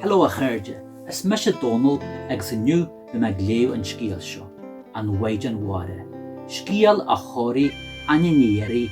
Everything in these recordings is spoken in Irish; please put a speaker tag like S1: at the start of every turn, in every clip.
S1: Hello a chairde, is mise Dónal agus inniu beidh mé ag léamh an scéil seo, An Mhaighdean Mhara, scéal a chóirigh Áine Ní Dheiridh,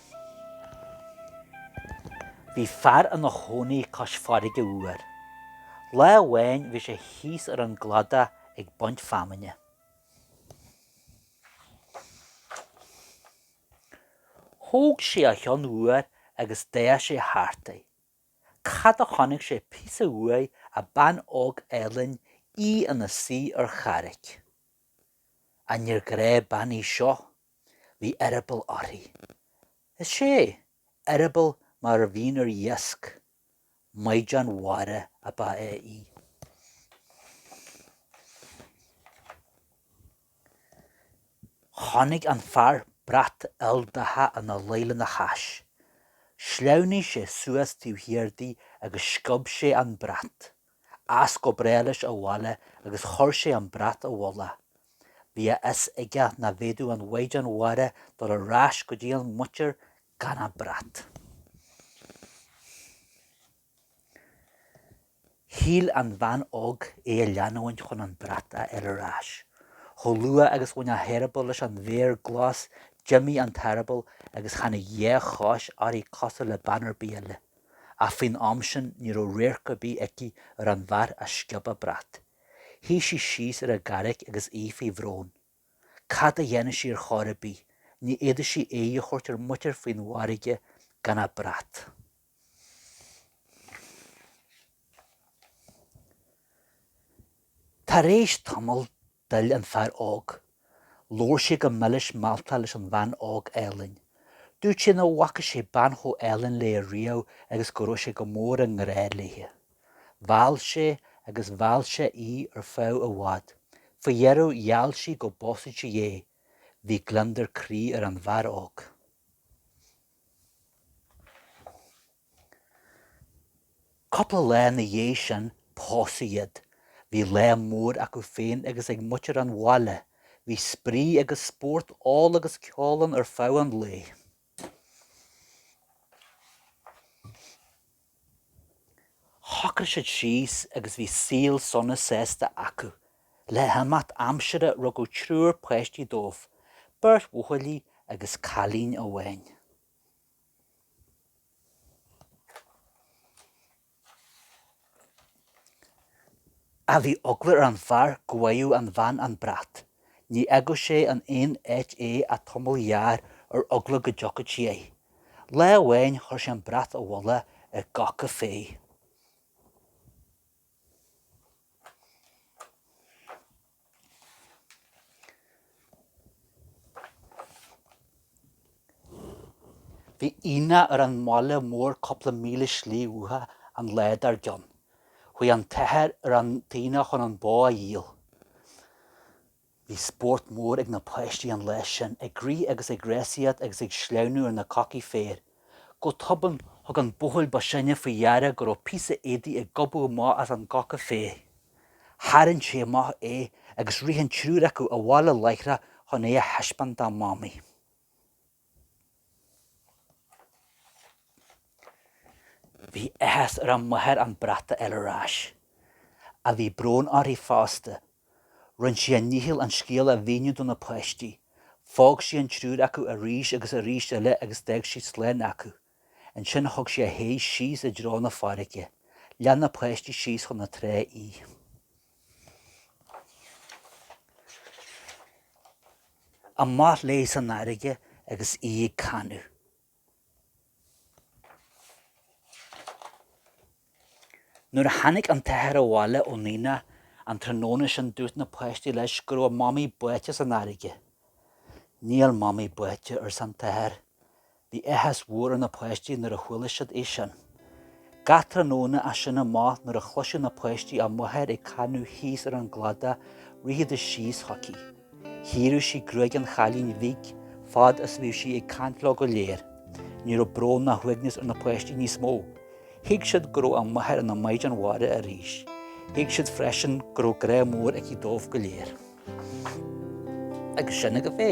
S2: Bhí fear ina chónaí cois farraige uair. Lá amháin bhí sé thíos ar an gcladach ag baint feamainne. Thóg sé a cheann uair agus d'fhéach sé thart é. Cad a chonaic sé píosa uaidh ach bean óg álainn, í ina suí ar charraic. Ach níor ghnáthbhean í seo. Bhí eireaball uirthi. Is ea, eireaball mar a bhíonn ar iasc. Maighdean mhara ab ea í. Chonaic an fear brat ildaite ina luí lena hais. Shleamhnaigh sé suas taobh thiar di agus sciob sé an brat. As go bráth leis abhaile agus chuir sé an brat i bhfolach. Bhí a fhios aige nach bhféadfadh an Mhaighdean Mhara dul ar ais go dtína muintir gan a brat. Shíl an bhean óg é a leanúint chun an brat a fháil ar ais. Chomh luath agus bhain a heireaball leis an bhféar glas d'imigh an t-eireaball agus tháinig dhá chos uirthi cosúil le bean ar bith eile. ach faoin am sin ní raibh radharc ar bith aici ar an bhfear a sciob a brat. Shuigh sí síos ar an gcarraig agus í faoi bhrón. Cad a dhéanfadh sí ar chor ar bith? Ní fhéadfadh sí aghaidh a thabhairt ar a muintir faoin bhfarraige gan a brat. Tar éis tamaill, D'fhill an fear óg. Labhair sé go milis mealltach leis an bhean óg álainn. Dúirt sé nach bhfaca sé bean chomh álainn léi riamh agus go raibh sé go mór i ngrá léi. Mheall sé agus mheall sé í ar feadh i bhfad. Faoi dheireadh gheall sí go bpósfadh sí é. Bhí gliondar croí ar an bhfear óg. Cúpla lá ina dhiaidh sin, pósadh iad. Bhí lá mór acu féin agus ag muintir an bhaile. Bhí spraoi agus spórt, ól agus ceol ann ar feadh an lae. Shocraigh siad síos agus bhí saol sona sásta acu. Le himeacht aimsire rugadh triúr páistí dóibh, beirt bhuachaillí agus cailín amháin. Ach bhí eagla ar an bhfear go bhfaigheadh an bhean an brat. Ní fhágfadh sé in aon áit é ach tamall gearr ar eagla go dtiocfadh sí air. Lá amháin chuir sé an brat i bhfolach i gcoca féir. Bhí aonach ar an mbaile mór cúpla míle slí uathu an lá dár gcionn. Chuaigh an t-athair ar an aonach chun an bó a dhíol. Bhí spórt mór ag na páistí an lá sin, ag rith agus ag rásaíocht agus ag sleamhnú ar na cocaí féir. Go tobann, thug an buachaill ba shine faoi deara go raibh píosa éadaigh ag gobadh amach as an gcoca féir. Tharraing sé amach é agus rith an triúr acu abhaile láithreach chun é a thaispeáint dá mamaí. Bhí áthas ar an máthair an brat a fháil ar ais. Ach bhí brón uirthi fosta. Rinne sí a dícheall an scéal a mhíniú do na páistí. Phóg sí an triúr acu arís agus arís eile agus d'fhág sí slán acu. Ansin thug sí a haghaidh síos i dtreo na farraige. Lean na páistí síos chun na trá í. Amach léi san fharraige agus í ag canadh. Nuair a tháinig an t-athair abhaile ón aonach an tráthnóna sin dúirt na páistí leis go raibh a mamaí báite san fharraige. Níl mamaí báite, arsa an t-athair. Bhí áthas mhór ar na páistí nuair a chuala siad é sin. Gach tráthnóna as sin amach nuair a chloiseadh na páistí a máthair ag canadh thíos ar an gcladach rithidis síos chuici. Chíoradh sí gruaig an chailín bhig fad is a bhí sí ag caint leo go léir. Ní raibh brón ná uaigneas ar na páistí níos mó. Thuig siad go raibh a máthair ina maighdean mhara arís. Thuig siad freisin go raibh grá mór aici dóibh go léir. Agus sin agaibh é.